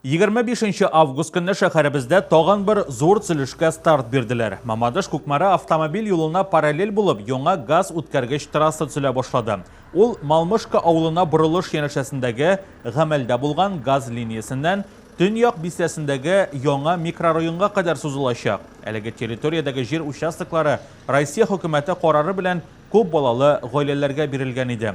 25 август көнне шәһәребездә тагын бер зур төзелешкә старт бирделәр. Мамадыш Кукмара автомобиль юлына параллель булып яңа газ үткәргеч трасса төзелә башлады. Ул Малмышка авылына борылыш янәшәсендәге гамәлдә булган газ линиясеннән Төньяк бистәсендәге яңа микрорайонга кадәр сузылачак. Әлеге территориядәге җир участоклары Россия хөкүмәте карары белән күп балалы гаиләләргә бирелгән иде.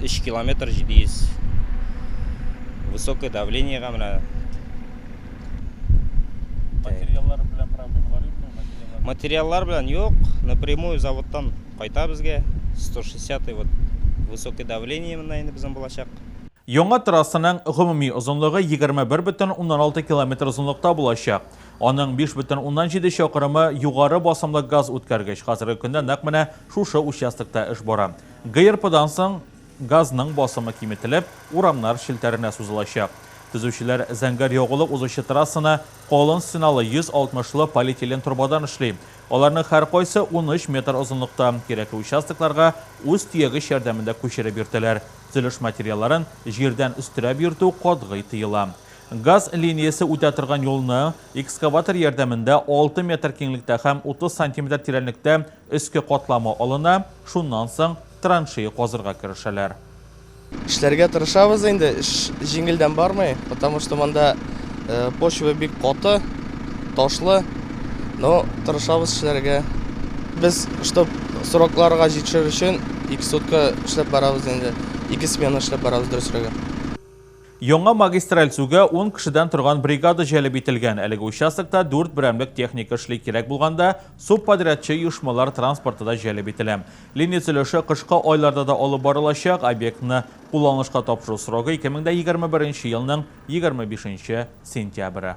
3 километр 700 высокое давление га менә материаллар белән проблемалар юкмы материаллар белән юк напрямую заводтан кайта безгә 160 вот высокое давление менә инде безнең булачак Яңа трассаның гомуми озынлыгы 21,6 километр озынлыкта булачак. Аның 5,7 чакрымы югары басымлы газ үткәргеч хәзерге көндә нәкъ менә Шушы участокта эш бара. ГРПдан соң газның басымы киметелеп, урамнар челтәренә сузылачак. Төзүчеләр зәңгәр ягулык узучы трассаны калын стеналы 160 лы полиэтилен торбадан эшли. Аларның һәркайсы унөч метр озынлыкта. Кирәкле участокларга үз төягеч ярдәмендә күчереп йөртәләр. Төзелеш материалларын җирдән өстерәп йөртү катгый тыела. Газ линиясе үтә торган юлны экскаватор ярдәмендә алты метр киңлектә һәм утыз сантиметр тирәнлектә Өске катламы алына, шуннан соң траншея казырга керешәләр. Эшләргә тырышабыз инде, эш җиңелдән бармый, потому что монда почва бик каты, ташлы, но тырышабыз эшләргә. Без, чтоб срокларга җитешер өчен, ике сутка эшләп барабыз инде, ике смена эшләп барабыз, дөресрәге. Яңа магистраль сүгә ун кешедән торган бригада җәлеп ителгән. Әлеге участокта дүрт берәмлек техника эшли, кирәк булганда, субподрядчы оешмалар транспорты да җәлеп ителә. Линия төзелеше кышкы айларда да алып барылачак, объектны кулланылышка тапшыру срогы 2021 елның 25 сентябре.